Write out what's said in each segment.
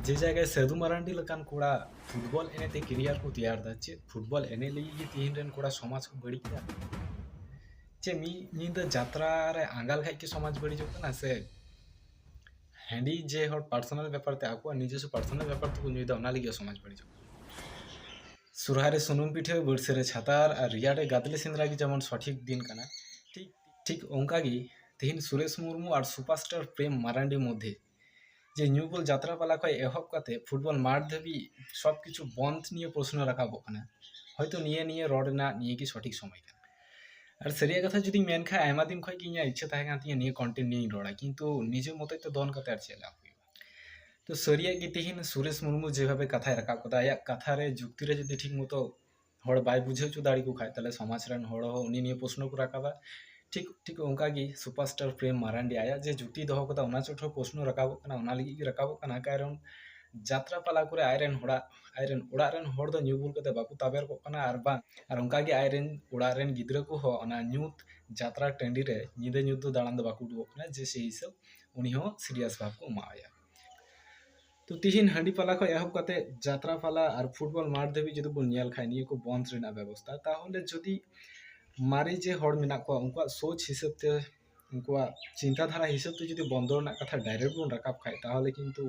ᱡᱮ ᱡᱟᱭᱜᱟᱭ ᱥᱟᱹᱫᱷᱩ ᱢᱟᱨᱟᱱᱰᱤ ᱞᱮᱠᱟᱱ ᱠᱚᱲᱟ ᱯᱷᱩᱴᱵᱚᱞ ᱮᱱᱮᱡ ᱛᱮ ᱠᱮᱨᱤᱭᱟᱨ ᱠᱚ ᱛᱮᱭᱟᱨ ᱮᱫᱟ ᱪᱮᱫ ᱯᱷᱩᱴᱵᱚᱞ ᱮᱱᱮᱡ ᱞᱟᱹᱜᱤᱫ ᱜᱮ ᱛᱮᱦᱮᱧ ᱨᱮᱱ ᱠᱚᱲᱟ ᱥᱚᱢᱟᱡᱽ ᱠᱚ ᱵᱟᱹᱲᱤᱡ ᱮᱫᱟ ᱪᱮᱫ ᱢᱤᱫ ᱧᱤᱫᱟᱹ ᱡᱟᱛᱨᱟ ᱨᱮ ᱟᱸᱜᱟ ᱞᱮᱠᱷᱟᱡ ᱜᱮ ᱥᱚᱢᱟᱡᱽ ᱵᱟᱹᱲᱤᱡᱚᱜ ᱠᱟᱱᱟ ᱥᱮ ᱦᱟᱺᱰᱤ ᱡᱮ ᱦᱚᱲ ᱯᱟᱨᱥᱚᱱᱟᱞ ᱵᱮᱯᱟᱨ ᱛᱮ ᱟᱠᱚᱣᱟᱜ ᱱᱤᱡᱚᱥᱥᱚ ᱯᱟᱨᱥᱚᱱᱟᱞ ᱵᱮᱯᱟᱨ ᱛᱮᱠᱚ ᱧᱩᱭᱮᱫᱟ ᱚᱱᱟ ᱞᱟᱹᱜᱤᱫ ᱥᱚᱢᱟᱡᱽ ᱵᱟᱹᱲᱤᱡᱚᱜ ᱠᱟᱱᱟ ᱥᱚᱨᱦᱟᱭ ᱨᱮ ᱥᱩᱱᱩᱢ ᱯᱤᱴᱷᱟᱹ ᱵᱟᱹᱨᱥᱟᱹ ᱨᱮ ᱪᱷᱟᱛᱟᱨ ᱟᱨ ᱨᱮᱭᱟᱲ ᱨᱮ ᱜᱟᱫᱽᱞᱮ ᱥᱮᱸᱫᱽᱨᱟ ᱜᱮ ᱡᱮᱢᱚᱱ ᱥᱚᱴᱷᱤᱠ ᱫᱤᱱ ᱠᱟᱱᱟ ᱴᱷᱤᱠ ᱴᱷᱤᱠ ᱚᱱᱠᱟ ᱜᱮ ᱛᱮᱦᱮᱧ ᱥᱩᱨᱮᱥ ᱢᱩᱨᱢᱩ ᱟᱨ ᱥᱩᱯᱟᱨᱥᱴᱟᱨ ᱯᱨᱮᱢ ᱢᱟᱨᱟᱱᱰᱤ ᱢᱚᱫᱽᱫᱷᱮ ᱡᱮ ᱧᱩ ᱵᱩᱞ ᱡᱟᱛᱨᱟ ᱯᱟᱞᱟ ᱠᱷᱚᱱ ᱮᱦᱚᱵ ᱠᱟᱛᱮ ᱯᱷᱩᱴᱵᱚᱞ ᱢᱟᱴᱷ ᱫᱷᱟᱹᱵᱤᱡ ᱥᱚᱵ ᱠᱤᱪᱷᱩ ᱵᱚᱱᱫᱷ ᱱᱤᱭᱮ ᱯᱨᱚᱥᱱᱚ ᱨᱟᱠᱟᱵᱚᱜ ᱠᱟᱱᱟ ᱦᱚᱭᱛᱚ ᱱᱤᱭᱟᱹ ᱱᱤᱭᱮ ᱨᱚᱲ ᱨᱮᱱᱟᱜ ᱱᱤᱭᱟᱹ ᱜᱮ ᱥᱚᱴᱷᱤᱠ ᱥᱚᱢᱚᱭ ᱠᱟᱱᱟ ᱟᱨ ᱥᱟᱹᱨᱤᱭᱟᱜ ᱠᱟᱛᱷᱟ ᱡᱩᱫᱤᱧ ᱢᱮᱱ ᱠᱷᱟᱱ ᱟᱭᱢᱟ ᱫᱤᱱ ᱠᱷᱚᱱ ᱜᱮ ᱤᱧᱟᱹᱜ ᱤᱪᱪᱷᱟᱹ ᱛᱟᱦᱮᱸ ᱠᱟᱱ ᱛᱤᱧᱟᱹ ᱱᱤᱭᱟᱹ ᱠᱚᱱᱴᱮᱱᱴ ᱱᱤᱭᱮᱧ ᱨᱚᱲᱟ ᱠᱤᱱᱛᱩ ᱱᱤᱡᱮ ᱢᱚᱛᱚᱡ ᱛᱮ ᱫᱚᱱ ᱠᱟᱛᱮ ᱟᱨ ᱪᱮᱫ ᱞᱟᱵᱷ ᱦᱩᱭᱩᱜᱼᱟ ᱛᱚ ᱥᱟᱹᱨᱤᱭᱟᱜ ᱜᱮ ᱛᱤᱦᱤᱧ ᱥᱩᱨᱮᱥ ᱢᱩᱨᱢᱩ ᱡᱮᱵᱷᱟᱵᱮ ᱠᱟᱛᱷᱟᱭ ᱨᱟᱠᱟᱵ ᱠᱟᱫᱟ ᱟᱭᱟᱜ ᱠᱟᱛᱷᱟ ᱨᱮ ᱡᱩᱠᱛᱤ ᱨᱮ ᱡᱩᱫᱤ ᱴᱷᱤᱠ ᱢᱚᱛᱚ ᱦᱚᱲ ᱵᱟᱭ ᱵᱩᱡᱷᱟᱹᱣ ᱦᱚᱪᱚ ᱫᱟᱲᱮ ᱟᱠᱚ ᱠᱷᱟᱱ ᱛᱟᱦᱚᱞᱮ ᱥᱚᱢᱟᱡᱽ ᱨᱮᱱ ᱦᱚᱲ ᱦᱚᱸ ᱩᱱᱤ ᱱᱤᱭᱮ ᱯᱨᱚᱥᱱᱚ ᱠᱚ ᱨᱟᱠᱟᱵᱟ ᱴᱷᱤᱠ ᱴᱷᱤᱠ ᱚᱱᱠᱟ ᱜᱮ ᱥᱩᱯᱟᱨ ᱥᱴᱟᱨ ᱯᱨᱮᱢ ᱢᱟᱨᱟᱱᱰᱤ ᱟᱭᱟᱜ ᱡᱮ ᱡᱩᱴᱤᱭ ᱫᱚᱦᱚ ᱟᱠᱟᱫᱟ ᱚᱱᱟ ᱪᱚᱴ ᱦᱚᱸ ᱯᱨᱚᱥᱱᱚ ᱨᱟᱠᱟᱵᱚᱜ ᱠᱟᱱᱟ ᱚᱱᱟ ᱞᱟᱹᱜᱤᱫ ᱜᱮ ᱨᱟᱠᱟᱵᱚᱜ ᱠᱟᱱᱟ ᱠᱟᱨᱚᱱ ᱡᱟᱛᱨᱟ ᱯᱟᱞᱟ ᱠᱚᱨᱮ ᱟᱡ ᱨᱮᱱ ᱦᱚᱲᱟᱜ ᱟᱡ ᱨᱮᱱ ᱚᱲᱟᱜ ᱨᱮᱱ ᱦᱚᱲ ᱫᱚ ᱧᱩ ᱵᱩᱞ ᱠᱟᱛᱮᱫ ᱵᱟᱠᱚ ᱛᱟᱵᱮᱨ ᱠᱚᱜ ᱠᱟᱱᱟ ᱟᱨ ᱵᱟᱝ ᱟᱨ ᱚᱱᱠᱟ ᱜᱮ ᱟᱡ ᱨᱮᱱ ᱚᱲᱟᱜ ᱨᱮᱱ ᱜᱤᱫᱽᱨᱟᱹ ᱠᱚᱦᱚᱸ ᱚᱱᱟ ᱧᱩᱛ ᱡᱟᱛᱨᱟ ᱴᱟᱺᱰᱤ ᱨᱮ ᱧᱤᱫᱟᱹ ᱧᱩᱛ ᱫᱚ ᱫᱟᱬᱟᱱ ᱫᱚ ᱵᱟᱠᱚ ᱩᱰᱩᱠᱚᱜ ᱠᱟᱱᱟ ᱡᱮ ᱥᱮᱭ ᱦᱤᱥᱟᱹᱵᱽ ᱩᱱᱤ ᱦᱚᱸ ᱥᱤᱨᱤᱭᱟᱥ ᱵᱷᱟᱵᱽ ᱠᱚ ᱮᱢᱟᱣᱟᱭᱟ ᱛᱚ ᱛᱤᱦᱤᱧ ᱦᱟᱺᱰᱤ ᱯᱟᱞᱟ ᱠᱷᱚᱱ ᱮᱦᱚᱵ ᱠᱟᱛᱮ ᱡᱟᱛᱨᱟ ᱯᱟᱞᱟ ᱟᱨ ᱯᱷᱩᱴᱵᱚᱞ ᱢᱟᱴᱷ ᱫᱷᱟᱹᱵᱤᱡ ᱡᱩᱫᱤ ᱵᱚᱱ ᱧᱮᱞ ᱠᱷᱟᱱ ᱱᱤᱭᱟᱹ ᱠᱚ ᱵᱚᱱᱫᱷ ᱨᱮᱱᱟᱜ ᱵᱮᱵᱚᱥᱛᱷᱟ ᱛᱟᱦᱚᱞᱮ ᱡᱩᱫᱤ ᱢᱟᱨᱮ ᱡᱮ ᱦᱚᱲ ᱢᱮᱱᱟᱜ ᱠᱚᱣᱟ ᱩᱱᱠᱩᱣᱟᱜ ᱥᱳᱪ ᱦᱤᱥᱟᱹᱵ ᱛᱮ ᱩᱱᱠᱩᱣᱟᱜ ᱪᱤᱱᱛᱟ ᱫᱷᱟᱨᱟ ᱦᱤᱥᱟᱹᱵ ᱛᱮ ᱡᱩᱫᱤ ᱵᱚᱱᱫᱚ ᱨᱮᱱᱟᱜ ᱠᱟᱛᱷᱟ ᱰᱟᱭᱨᱮᱠᱴ ᱵᱚᱱ ᱨᱟᱠᱟᱵ ᱠᱷᱟᱱ ᱛᱟᱦᱚᱞᱮ ᱠᱤᱱᱛᱩ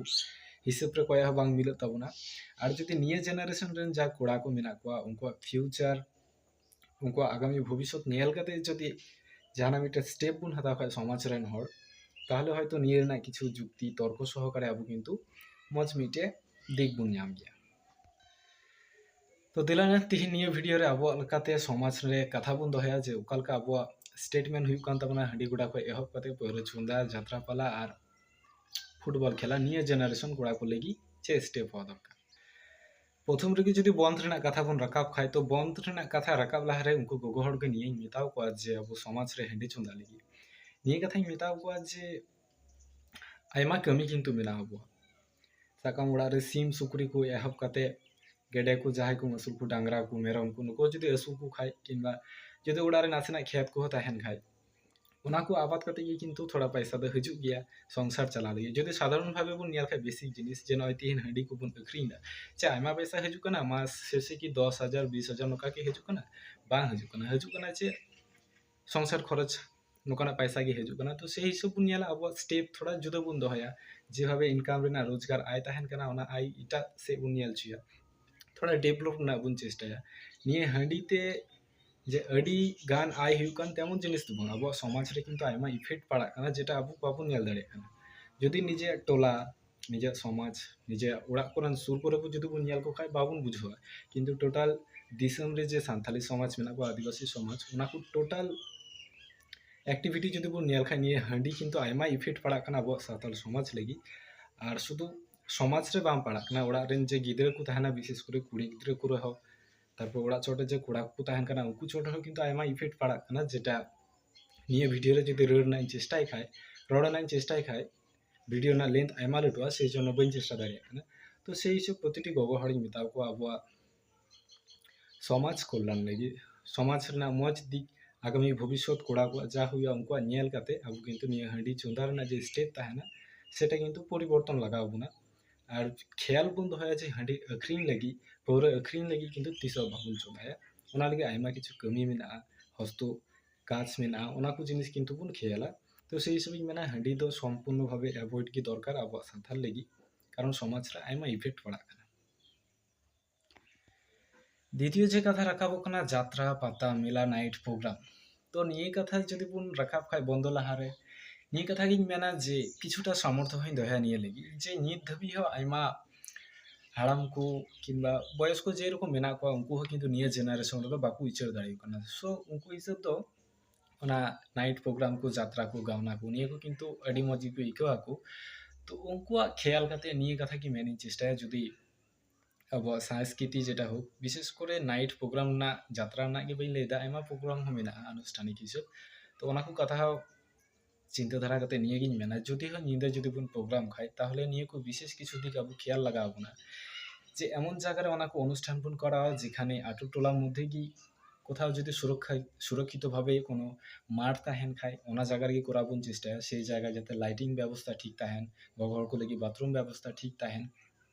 ᱦᱤᱥᱟᱹᱵ ᱨᱮ ᱠᱚᱭᱟ ᱦᱚᱸ ᱵᱟᱝ ᱢᱤᱞᱟᱹᱜ ᱛᱟᱵᱚᱱᱟ ᱟᱨ ᱡᱩᱫᱤ ᱱᱤᱭᱟᱹ ᱡᱮᱱᱟᱨᱮᱥᱚᱱ ᱨᱮᱱ ᱡᱟ ᱠᱚᱲᱟ ᱠᱚ ᱢᱮᱱᱟᱜ ᱠᱚᱣᱟ ᱩᱱᱠᱩᱣᱟᱜ ᱯᱷᱤᱭᱩᱪᱟᱨ ᱩᱱᱠᱩᱣᱟᱜ ᱟᱜᱟᱢᱤ ᱵᱷᱚᱵᱤᱥᱥᱚᱛ ᱧᱮᱞ ᱠᱟᱛᱮ ᱡᱩᱫᱤ ᱡᱟᱦᱟᱱᱟᱜ ᱢᱤᱫᱴᱮᱱ ᱥᱴᱮᱯ ᱵᱚᱱ ᱦᱟᱛᱟᱣ ᱠᱷᱟᱱ ᱥᱚᱢᱟᱡᱽ ᱨᱮᱱ ᱦᱚᱲ ᱛᱟᱦᱚᱞᱮ ᱦᱚᱭᱛᱳ ᱱᱤᱭᱟᱹ ᱨᱮᱱᱟᱜ ᱠᱤᱪᱷᱩ ᱡᱩᱠᱛᱤ ᱛᱚᱨᱠᱚ ᱥᱚᱦᱚᱠᱟᱨᱮ ᱟᱵᱚ ᱠᱤᱱᱛᱩ ᱢᱚᱡᱽ ᱢᱤᱫᱴᱮᱱ ᱫᱤᱠ ᱵᱚᱱ ᱧᱟᱢ ᱜᱮᱭᱟ ᱛᱚ ᱫᱮᱞᱟ ᱛᱤᱦᱤᱧ ᱱᱤᱭᱟᱹ ᱵᱷᱤᱰᱤᱭᱳ ᱨᱮ ᱟᱵᱚᱣᱟᱜ ᱞᱮᱠᱟᱛᱮ ᱥᱚᱢᱟᱡᱽ ᱨᱮ ᱠᱟᱛᱷᱟ ᱵᱚᱱ ᱫᱚᱦᱚᱭᱟ ᱡᱮ ᱚᱠᱟ ᱞᱮᱠᱟ ᱟᱵᱚᱣᱟᱜ ᱥᱴᱮᱴᱢᱮᱱᱴ ᱦᱩᱭᱩᱜ ᱠᱟᱱ ᱛᱟᱵᱚᱱᱟ ᱦᱟᱺᱰᱤ ᱜᱚᱰᱟ ᱠᱷᱚᱱ ᱮᱦᱚᱵ ᱠᱟᱛᱮ ᱯᱟᱹᱣᱨᱟᱹ ᱪᱚᱸᱫᱟ ᱡᱟᱛᱨᱟ ᱯᱟᱞᱟ ᱟᱨ ᱯᱷᱩᱴᱵᱚᱞ ᱠᱷᱮᱞᱟ ᱱᱤᱭᱟᱹ ᱡᱮᱱᱟᱨᱮᱥᱚᱱ ᱠᱚᱲᱟ ᱠᱚ ᱞᱟᱹᱜᱤᱫ ᱪᱮᱫ ᱥᱴᱮᱯ ᱦᱚᱸ ᱫᱚᱨᱠᱟᱨ ᱯᱨᱚᱛᱷᱚᱢ ᱨᱮᱜᱮ ᱡᱩᱫᱤ ᱵᱚᱱᱫᱷ ᱨᱮᱱᱟᱜ ᱠᱟᱛᱷᱟ ᱵᱚᱱ ᱨᱟᱠᱟᱵ ᱠᱷᱟᱡ ᱛᱚ ᱵᱚᱱᱫᱷ ᱨᱮᱱᱟᱜ ᱠᱟᱛᱷᱟ ᱨᱟᱠᱟᱵ ᱞᱟᱦᱟ ᱨᱮ ᱩᱱᱠᱩ ᱜᱚᱜᱚ ᱦᱚᱲ ᱜᱮ ᱱᱤᱭᱟᱹᱧ ᱢᱮᱛᱟ ᱠᱚᱣᱟ ᱡᱮ ᱟᱵᱚ ᱥᱚᱢᱟᱡᱽ ᱨᱮ ᱦᱟᱺᱰᱤ ᱪᱚᱸᱫᱟ ᱞᱟᱹᱜᱤᱫ ᱱᱤᱭᱟᱹ ᱠᱟᱛᱷᱟᱧ ᱢᱮᱛᱟ ᱠᱚᱣᱟ ᱡᱮ ᱟᱭᱢᱟ ᱠᱟᱹᱢᱤ ᱠᱤᱱᱛᱩ ᱢᱮᱱᱟᱜᱼᱟ ᱟᱵᱚᱣᱟᱜ ᱥᱟᱵ ᱠᱟᱜ ᱢᱮ ᱚᱲᱟᱜ ᱨᱮ ᱥᱤᱢ ᱥᱩᱠᱨᱤ ᱠᱚ ᱮᱦᱚᱵ ᱠᱟᱛᱮ ᱜᱮᱰᱮ ᱠᱚ ᱡᱟᱦᱟᱸᱭ ᱠᱚ ᱟᱹᱥᱩᱞ ᱠᱚ ᱰᱟᱝᱨᱟ ᱠᱚ ᱢᱮᱨᱚᱢ ᱠᱚ ᱱᱩᱠᱩ ᱡᱩᱫᱤ ᱟᱹᱥᱩᱞ ᱠᱚ ᱠᱷᱟᱡ ᱠᱤᱝᱵᱟ ᱡᱩᱫᱤ ᱚᱲᱟᱜ ᱨᱮ ᱱᱟᱥᱮᱱᱟᱜ ᱠᱷᱮᱛ ᱠᱚᱦᱚᱸ ᱛᱟᱦᱮᱱ ᱠᱷᱟᱡ ᱚᱱᱟ ᱠᱚ ᱟᱵᱟᱫ ᱠᱟᱛᱮ ᱜᱮ ᱠᱤᱱᱛᱩ ᱛᱷᱚᱲᱟ ᱯᱟᱭᱥᱟ ᱫᱚ ᱦᱤᱡᱩᱜ ᱜᱮᱭᱟ ᱥᱚᱝᱥᱟᱨ ᱪᱟᱞᱟᱣ ᱞᱟᱹᱜᱤᱫ ᱡᱩᱫᱤ ᱥᱟᱫᱷᱟᱨᱚᱱ ᱵᱷᱟᱵᱮ ᱵᱚᱱ ᱧᱮᱞ ᱠᱷᱟᱡ ᱵᱮᱥᱤᱠ ᱡᱤᱱᱤᱥ ᱡᱮ ᱱᱚᱜᱼᱚᱭ ᱛᱤᱦᱤᱧ ᱦᱟᱺᱰᱤ ᱠᱚᱵᱚᱱ ᱟᱹᱠᱷᱨᱤᱧᱫᱟ ᱪᱮ ᱟᱭᱢᱟ ᱯᱟᱭᱥᱟ ᱦᱤᱡᱩᱜ ᱠᱟᱱᱟ ᱢᱟᱥ ᱥᱮᱥᱮ ᱠᱤ ᱫᱚᱥ ᱦᱟᱡᱟᱨ ᱵᱤᱥ ᱦᱟᱡᱟᱨ ᱱᱚᱝᱠᱟ ᱠᱤ ᱦᱤᱡᱩᱜ ᱠᱟᱱᱟ ᱵᱟᱝ ᱦᱤᱡᱩᱜ ᱠᱟᱱᱟ ᱦᱤᱡᱩᱜ ᱠᱟᱱᱟ ᱪᱮᱫ ᱥᱚᱝᱥᱟᱨ ᱠᱷᱚᱨᱚᱪ ᱱᱚᱝᱠᱟᱱᱟᱜ ᱯᱟᱭᱥᱟ ᱜᱮ ᱦᱤᱡᱩᱜ ᱠᱟᱱᱟ ᱛᱚ ᱥᱮᱭ ᱦᱤᱥᱟᱹᱵ ᱵᱚᱱ ᱧᱮᱞᱟ ᱟᱵᱚᱣᱟᱜ ᱥᱴᱮᱯ ᱛᱷᱚᱲᱟ ᱡᱩᱫᱟᱹ ᱵᱚᱱ ᱫᱚᱦᱚᱭᱟ ᱡᱮᱵᱷᱟᱵᱮ ᱤᱱᱠᱟᱢ ᱨᱮᱱᱟᱜ ᱨᱳᱡᱽᱜᱟᱨ ᱟᱭ ᱛᱟᱦᱮᱱ ᱠᱟᱱᱟ ᱚᱱᱟ ᱟᱭ ᱮᱴᱟᱜ ᱥᱮᱫ ᱵᱚᱱ ᱧᱮᱞ ᱦᱚᱪᱚᱭᱟ ᱛᱷᱚᱲᱟ ᱰᱮᱵᱷᱞᱚᱯ ᱨᱮᱱᱟᱜ ᱵᱚᱱ ᱪᱮᱥᱴᱟᱭᱟ ᱱᱤᱭᱟᱹ ᱦᱟᱺᱰᱤ ᱛᱮ ᱡᱮ ᱟᱹᱰᱤ ᱜᱟᱱ ᱟᱭ ᱦᱩᱭᱩᱜ ᱠᱟᱱ ᱛᱮᱢᱚᱱ ᱡᱤᱱᱤᱥ ᱫᱚ ᱵᱟᱝ ᱟᱵᱚᱣᱟᱜ ᱥᱚᱢᱟᱡᱽ ᱨᱮ ᱠᱤᱱᱛᱩ ᱟᱭᱢᱟ ᱤᱯᱷᱮᱠᱴ ᱯᱟᱲᱟᱜ ᱠᱟᱱᱟ ᱡᱮᱴᱟ ᱟᱵᱚ ᱵᱟᱵᱚᱱ ᱧᱮᱞ ᱫᱟᱲᱮᱭᱟᱜ ᱠᱟᱱᱟ ᱡᱩᱫᱤ ᱱᱤᱡᱮᱨᱟᱜ ᱴᱚᱞᱟ ᱱᱤᱡᱮᱨᱟᱜ ᱥᱚᱢᱟᱡᱽ ᱱᱤᱡᱮᱨᱟᱜ ᱚᱲᱟᱜ ᱠᱚᱨᱮᱱ ᱥᱩᱨ ᱠᱚᱨᱮ ᱵᱚᱱ ᱡᱩᱫᱤ ᱵᱚᱱ ᱧᱮᱞ ᱠᱚ ᱠᱷᱟᱱ ᱵᱟᱵᱚᱱ ᱵᱩᱡᱷᱟᱹᱣᱟ ᱠᱤᱱᱛᱩ ᱴᱳᱴᱟᱞ ᱫᱤᱥᱚᱢ ᱨᱮ ᱡᱮ ᱥᱟᱱᱛᱟᱲᱤ ᱥᱚᱢᱟᱡᱽ ᱢᱮᱱᱟᱜ ᱠᱚᱣᱟ ᱟᱹᱫᱤᱵᱟᱹᱥᱤ ᱥᱚᱢᱟᱡᱽ ᱚᱱᱟ ᱠᱚ ᱴᱳᱴᱟᱞ ᱮᱠᱴᱤᱵᱷᱤᱴᱤ ᱡᱩᱫᱤ ᱵᱚᱱ ᱧᱮᱞ ᱠᱷᱟᱱ ᱱᱤᱭᱟᱹ ᱦᱟᱺᱰᱤ ᱠᱤᱱᱛᱩ ᱟᱭᱢᱟ ᱤᱯᱷᱮᱠᱴ ᱯᱟᱲᱟᱜ ᱠᱟᱱᱟ ᱟᱵᱚᱣᱟᱜ ᱥᱟᱱᱛᱟᱲ ᱥᱚᱢᱟᱡᱽ ᱞᱟᱹᱜᱤᱫ ᱟᱨ ᱥᱩᱫᱷᱩ ᱥᱚᱢᱟᱡᱽ ᱨᱮ ᱵᱟᱝ ᱯᱟᱲᱟᱜ ᱠᱟᱱᱟ ᱚᱲᱟᱜ ᱨᱮᱱ ᱡᱮ ᱜᱤᱫᱽᱨᱟᱹ ᱠᱚ ᱛᱟᱦᱮᱱᱟ ᱵᱤᱥᱮᱥ ᱠᱚᱨᱮ ᱠᱩᱲᱤ ᱜᱤᱫᱽᱨᱟᱹ ᱠᱚ ᱨᱮᱦᱚᱸ ᱛᱟᱨᱯᱚᱨ ᱚᱲᱟᱜ ᱪᱚᱴᱨᱮ ᱡᱮ ᱠᱚᱲᱟ ᱠᱚᱠᱚ ᱛᱟᱦᱮᱱ ᱠᱟᱱᱟ ᱩᱱᱠᱩ ᱪᱚᱴ ᱨᱮᱦᱚᱸ ᱠᱤᱱᱛᱩ ᱟᱭᱢᱟ ᱤᱯᱷᱮᱠᱴ ᱯᱟᱲᱟᱜ ᱠᱟᱱᱟ ᱡᱮᱴᱟ ᱱᱤᱭᱟᱹ ᱵᱷᱤᱰᱤᱭᱳ ᱨᱮ ᱡᱩᱫᱤ ᱨᱟᱹᱲ ᱨᱮᱱᱟᱜ ᱤᱧ ᱪᱮᱥᱴᱟᱭ ᱠᱷᱟᱡ ᱨᱚᱲ ᱨᱮᱱᱟᱜ ᱤᱧ ᱪᱮᱥᱴᱟᱭ ᱠᱷᱟᱡ ᱵᱷᱤᱰᱤᱭᱳ ᱨᱮᱱᱟᱜ ᱞᱮᱱᱛᱷ ᱟᱭᱢᱟ ᱞᱟᱹᱴᱩᱜᱼᱟ ᱥᱮᱭ ᱡᱚᱱᱱᱚ ᱵᱟᱹᱧ ᱪᱮᱥᱴᱟ ᱫᱟᱲᱮᱭᱟᱜ ᱠᱟᱱᱟ ᱛᱚ ᱥᱮᱭ ᱦᱤᱥᱟᱹᱵ ᱯᱨᱚᱛᱤᱴᱤ ᱜᱚᱜᱚ ᱦᱚᱲᱤᱧ ᱢᱮᱛᱟ ᱠᱚᱣᱟ ᱟᱵᱚᱣᱟᱜ ᱥᱚᱢᱟᱡᱽ ᱠᱚᱞᱞᱟᱱ ᱞᱟᱹᱜᱤᱫ ᱥᱚᱢᱟᱡᱽ ᱨᱮᱱᱟᱜ ᱢᱚᱡᱽ ᱫᱤᱠ ᱟᱜᱟᱢᱤ ᱵᱷᱚᱵᱤᱥᱥᱚᱛ ᱠᱚᱲᱟ ᱠᱚᱣᱟᱜ ᱡᱟ ᱦᱩᱭᱩᱜᱼᱟ ᱩᱱᱠᱩᱣᱟᱜ ᱧᱮᱞ ᱠᱟᱛᱮ ᱟᱵᱚ ᱠᱤᱱᱛᱩ ᱱᱤᱭᱟᱹ ᱦᱟᱺᱰᱤ ᱪᱚᱸᱫᱟ ᱨᱮᱱᱟᱜ ᱡᱮ ᱥᱴᱮᱯ ᱛᱟᱦᱮᱱᱟ ᱥᱮᱴᱟ ᱠᱤᱱᱛᱩ ᱯᱚᱨᱤᱵᱚᱨᱛᱚᱱ ᱞᱟᱜᱟᱣ ᱵᱚᱱᱟ ᱟᱨ ᱠᱷᱮᱭᱟᱞ ᱵᱚᱱ ᱫᱚᱦᱚᱭᱟ ᱡᱮ ᱦᱟᱺᱰᱤ ᱟᱹᱠᱷᱨᱤᱧ ᱞᱟᱹᱜᱤᱫ ᱯᱟᱹᱣᱨᱟᱹ ᱟᱹᱠᱷᱨᱤᱧ ᱞᱟᱹᱜᱤᱫ ᱠᱤᱱᱛᱩ ᱛᱤᱥ ᱦᱚᱸ ᱵᱟᱵᱚᱱ ᱪᱚᱸᱫᱟᱭᱟ ᱚᱱᱟ ᱞᱟᱹᱜᱤᱫ ᱟᱭᱢᱟ ᱠᱤᱪᱷᱩ ᱠᱟᱹᱢᱤ ᱢᱮᱱᱟᱜᱼᱟ ᱦᱚᱥᱛᱚ ᱠᱟᱸᱪ ᱢᱮᱱᱟᱜᱼᱟ ᱚᱱᱟ ᱠᱚ ᱡᱤᱱᱤᱥ ᱠᱤᱱᱛᱩ ᱵᱚᱱ ᱠᱷᱮᱭᱟᱞᱟ ᱛᱚ ᱥᱮᱭ ᱦᱤᱥᱟᱹᱵ ᱤᱧ ᱢᱮᱱᱟ ᱦᱟᱺᱰᱤ ᱫᱚ ᱥᱚᱢᱯᱩᱨᱱᱚ ᱵᱷᱟᱵᱮ ᱮᱵᱷᱚᱭᱮᱰ ᱜᱮ ᱫᱚᱨᱠᱟᱨ ᱟᱵᱚᱣᱟᱜ ᱥᱟᱱᱛᱟᱲ ᱞᱟᱹᱜᱤᱫ ᱠᱟᱨᱚᱱ ᱥᱚᱢᱟᱡᱽ ᱨᱮ ᱟᱭᱢᱟ ᱤᱯᱷᱮᱠᱴ ᱯᱟᱲᱟᱜ ᱠᱟᱱᱟ ᱫᱤᱛᱤᱭᱚ ᱡᱮ ᱠᱟᱛᱷᱟ ᱨᱟᱠᱟᱵᱚᱜ ᱠᱟᱱᱟ ᱡᱟᱛᱨᱟ ᱯᱟᱛᱟ ᱢᱮᱞᱟ ᱱᱟᱭᱤᱴ ᱯᱨᱳᱜᱨᱟᱢ ᱛᱚ ᱱᱤᱭᱟᱹ ᱠᱟᱛᱷᱟ ᱡᱩᱫᱤ ᱵᱚᱱ ᱨᱟᱠᱟᱵ ᱠᱷᱟᱱ ᱵᱚᱱᱫᱚ ᱞᱟᱦᱟᱨᱮ ᱱᱤᱭᱟᱹ ᱠᱟᱛᱷᱟ ᱜᱤᱧ ᱢᱮᱱᱟ ᱡᱮ ᱠᱤᱪᱷᱩᱴᱟ ᱥᱟᱢᱚᱨᱛᱷᱚ ᱦᱚᱸᱧ ᱫᱚᱦᱚᱭᱟ ᱱᱤᱭᱟᱹ ᱞᱟᱹᱜᱤᱫ ᱡᱮ ᱱᱤᱛ ᱫᱷᱟᱹᱵᱤᱡ ᱦᱚᱸ ᱟᱭᱢᱟ ᱦᱟᱲᱟᱢ ᱠᱚ ᱠᱤᱢᱵᱟ ᱵᱚᱭᱚᱥ ᱠᱚ ᱡᱮᱨᱚᱠᱚᱢ ᱢᱮᱱᱟᱜ ᱠᱚᱣᱟ ᱩᱱᱠᱩ ᱦᱚᱸ ᱠᱤᱱᱛᱩ ᱱᱤᱭᱟᱹ ᱡᱮᱱᱟᱨᱮᱥᱚᱱ ᱨᱮᱫᱚ ᱵᱟᱠᱚ ᱩᱪᱟᱹᱲ ᱫᱟᱲᱮᱭᱟᱜ ᱠᱟᱱᱟ ᱥᱳ ᱩᱱᱠᱩ ᱦᱤᱥᱟᱹᱵ ᱫᱚ ᱚᱱᱟ ᱱᱟᱭᱤᱴ ᱯᱨᱳᱜᱨᱟᱢ ᱠᱚ ᱡᱟᱛᱨᱟ ᱠᱚ ᱜᱟᱣᱱᱟ ᱠᱚ ᱱᱤᱭᱟᱹ ᱠᱚ ᱠᱤᱱᱛᱩ ᱟᱹᱰᱤ ᱢᱚᱡᱽ ᱜᱮᱠᱚ ᱟᱹᱭᱠᱟᱹᱣ ᱟᱠᱚ ᱛᱚ ᱩᱱᱠᱩᱣᱟᱜ ᱠᱷᱮᱭᱟᱞ ᱠᱟᱛᱮ ᱱᱤᱭᱟᱹ ᱠᱟᱛᱷᱟ ᱜᱮ ᱢᱮᱱᱤᱧ ᱪᱮᱥᱴᱟᱭᱟ ᱡᱩᱫᱤ ᱟᱵᱚᱣᱟᱜ ᱥᱟᱸᱥᱠᱨᱤᱛᱤ ᱡᱮᱴᱟ ᱦᱳᱠ ᱵᱤᱥᱮᱥ ᱠᱚᱨᱮ ᱱᱟᱭᱤᱴ ᱯᱨᱳᱜᱨᱟᱢ ᱨᱮᱱᱟᱜ ᱡᱟᱛᱨᱟ ᱨᱮᱱᱟᱜ ᱜᱮ ᱵᱟᱹᱧ ᱞᱟᱹᱭᱫᱟ ᱟᱭᱢᱟ ᱯᱨᱳᱜᱨᱟᱢ ᱦᱚᱸ ᱢᱮᱱᱟᱜᱼᱟ ᱟᱱᱩᱥᱴᱷᱟᱱᱤᱠ ᱦᱤᱥᱟᱹᱵ ᱛᱚ ᱚᱱᱟ ᱠᱚ ᱠᱟᱛᱷᱟ ᱦᱚᱸ ᱪᱤᱱᱛᱟᱹ ᱫᱷᱟᱨᱟ ᱠᱟᱛᱮ ᱱᱤᱭᱟᱹ ᱜᱤᱧ ᱢᱮᱱᱟ ᱡᱩᱫᱤ ᱦᱚᱸ ᱧᱤᱫᱟᱹ ᱡᱩᱫᱤ ᱵᱚᱱ ᱯᱨᱳᱜᱨᱟᱢ ᱠᱷᱟᱡ ᱛᱟᱦᱚᱞᱮ ᱱᱤᱭᱟᱹ ᱠᱚ ᱵᱤᱥᱮᱥ ᱠᱤᱪᱷᱩ ᱫᱤᱠ ᱟᱵᱚ ᱠᱷᱮᱭᱟᱞ ᱞᱟᱜᱟᱣ ᱵᱚᱱᱟ ᱡᱮ ᱮᱢᱚᱱ ᱡᱟᱭᱜᱟ ᱨᱮ ᱚᱱᱟ ᱠᱚ ᱚᱱᱩᱥᱴᱷᱟᱱ ᱵᱚᱱ ᱠᱚᱨᱟᱣᱟ ᱡᱮᱠᱷᱟᱱᱮ ᱟᱛᱳ ᱴᱚᱞᱟ ᱢᱚᱫᱽᱫᱷᱮ ᱜᱮ ᱠᱳᱛᱷᱟᱣ ᱡᱩᱫᱤ ᱥᱩᱨᱚᱠᱠᱷᱟ ᱥᱩᱨᱚᱠᱠᱷᱤᱛᱚ ᱵᱷᱟᱵᱮ ᱠᱳᱱᱳ ᱢᱟᱴᱷ ᱛᱟᱦᱮᱱ ᱠᱷᱟᱡ ᱚᱱᱟ ᱡᱟᱭᱜᱟ ᱨᱮᱜᱮ ᱠᱚᱨᱟᱣ ᱵᱚᱱ ᱪᱮᱥᱴᱟᱭᱟ ᱥᱮᱭ ᱡᱟᱭᱜᱟ ᱡᱟᱛᱮ ᱞᱟᱭᱴᱤᱝ ᱵᱮᱵᱚᱥᱛᱟ ᱴᱷᱤᱠ ᱛᱟᱦᱮᱱ ᱜᱚᱜᱚ ᱦᱚᱲ ᱠᱚ ᱞᱟᱹᱜᱤᱫ ᱵᱟᱛᱷᱨᱩᱢ ᱵᱮᱵᱚᱥᱛᱟ ᱴᱷᱤᱠ ᱛᱟᱦᱮᱱ